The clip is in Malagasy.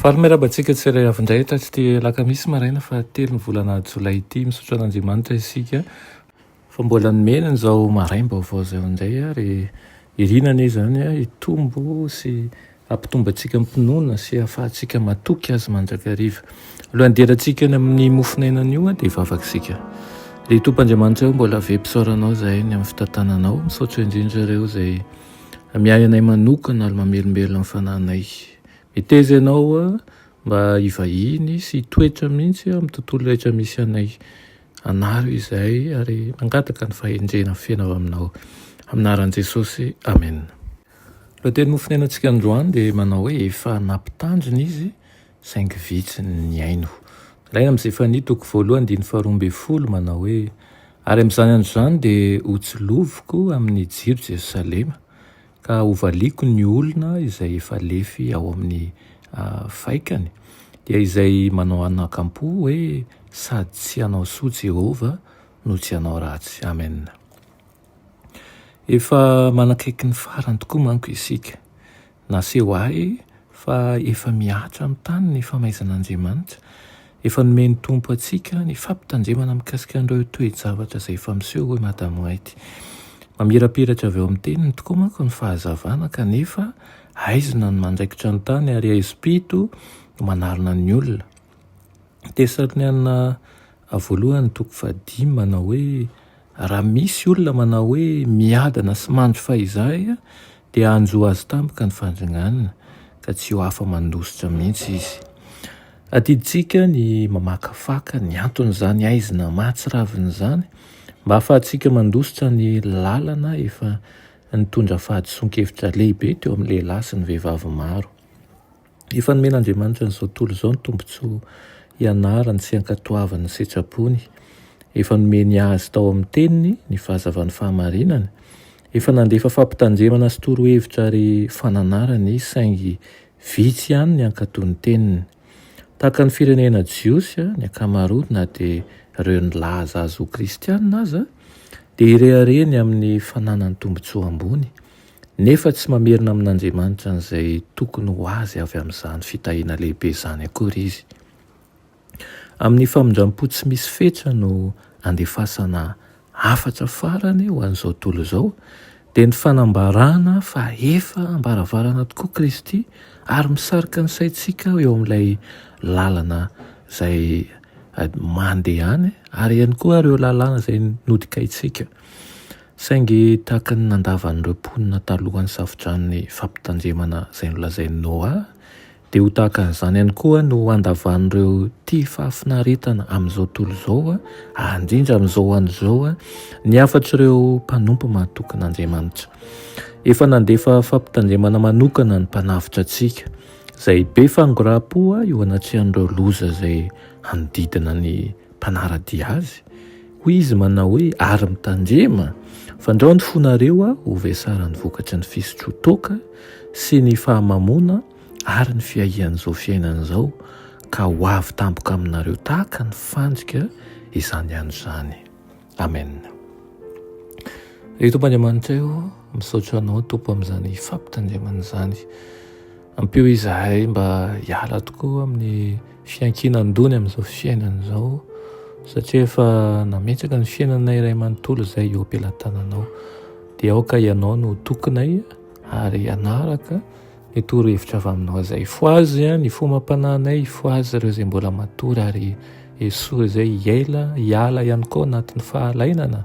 Faly miarahaba antsika tsirairay avy indray eto atsy Alakamisy maraina fa telo ny volana jolay ity. Misaotra an'Andriamanitra isika fa mbola nomeny an'izao maraim-baovao izao indray ary irina anie izany hitombo sy hampitombo antsika am-pinoana sy hahafahantsika matoky Azy mandrakariva. Alohan'ny hiderantsika any amin'ny mofon'ainana io dia hivavaka isika. Ry Tompo Andriamanitra eo mbola ve mpisaoranao izahay ny amin'ny fitantananao. Misaotra indrindra ireo izay Miahy anay manokana ary mamelombelona ny fanahinay. Meteza ianao mba hivahiny sy hitoetra mihitsy amin'ny tontolo rehetra misy anay. Anaro izay ary mangataka ny fahendrena feno avy aminao. Amin'ny anaran'i Jesosy, amena. Lohatenin'ny hofonenantsika androany dia manao hoe efa nampitandrina izy. saingy vitsy ny nihaino. Rainy amin'i Zefania toko voalohany andininy faharoa ambin'ny folo manao hoe, Ary amin'izany andro izany dia hotsiloviko amin'ny jiro Jerosalema, ka hovaliako ny olona izay efa lefy ao amin'ny faikany, dia izay manao anakam-po hoe sady tsy hanao soa Jehovah no tsy hanao ratsy. Amen. Efa manakaiky ny farany tokoa manko isika. Naseho ahy fa efa mihatra amin'ny tany ny famaizan'Andriamanitra. Efa nomen'ny Tompo antsika ny fampitandremana mikasika an'ireo toe-javatra izay efa miseho, hoy Madame White. Mamirapiratra avy ao amin'ny Teniny tokoa manko ny fahazavana, kanefa haizina ny mandraikitra ny tany ary haizo-pito no manarona ny olona. Tesaloniana voalohany toko fahadimy manao hoe raha misy olona manao hoe miadana sy manjo fahizay dia hanjo azy tampoka ny fandringanina ka tsy ho afa-mandositra mihitsy izy. Adidintsika ny mamakafaka ny anton'izany haizina mahatsiravina izany mba hahafahantsika mandositra ny lalana efa nitondra fahadisoan-kevitra lehibe teo amin'ny lehilahy sy ny vehivavy maro. Efa nomen'Andriamanitra ny Zotoly izao ny tombontsoa ianarany sy ankatoavany ny setra-pony. Efa nomeny azy tao amin'ny Teniny ny fahazavan'ny fahamarinana. Efa nandefa fampitandremana sy torohevitra ary fananarana Izy saingy vitsy ihany ny hankatò ny Teniny. Tahaka ny firenena jiosy, ny ankamaroany na dia ireo nilaza azy ho kristiana aza dia irehareny amin'ny fananany tombontsoa ambony. nefa tsy mamerina amin'Andriamanitra an'izay tokony ho azy avy amin'izany fitahiana lehibe izany akory izy. Amin'ny famindram-po tsy misy fetra no andefasana hafatra farany ho an'izao tontolo izao, dia ny fanambarana fa efa am-baravarana tokoa Kristy ary misarika ny saintsika eo amin'ilay lalana izay mandehany ary ihany koa ireo lalàna izay nodikaintsika. Saingy tahaka ny nandavan'ireo mponina talohan'ny Safo-dranon'ny Fampitandremana izay nolazain'i Noa, dia ho tahaka an'izany ihany koa no handavan'ireo tia fahafinaretana amin'izao tontolo izao, ary indrindra amin'izao andro izao, ny hafatr'ireo mpanompo mahatokin'Andriamanitra. Efa nandefa fampitandremana manokana ny Mpanavotra antsika, izay be fangoraham-po eo anatrehan'ireo loza izay hanodidina ny mpanara-dia Azy. Hoy izy manao hoe, Ary mitandrema, fandraony fonareo aho ho vesaran'ny vokatry ny fisotroan-toaka sy ny fahamamoana ary ny fiahian'izao fiainana izao, ka ho avy tampoka aminareo tahaka ny fandrika izany andro izany. Amen. Ry Tompo Andriamanitray ô, misaotra Anao Tompo amin'izany fampitandremana izany. Ampio izahay mba hiala tokoa amin'ny fiankinan-doha ny amin'izao fiainana izao satria efa nametraka ny fiainana iray manontolo izay eo am-pelatananao. Dia aoka ianao no tokinay ary hanaraka ny torohevitra avy aminao izay. Fohazy ny fomam-panahinay, fohazy ireo izay mbola matory ary esory izay hiaila, hiala ihany koa anatin'ny fahalainana.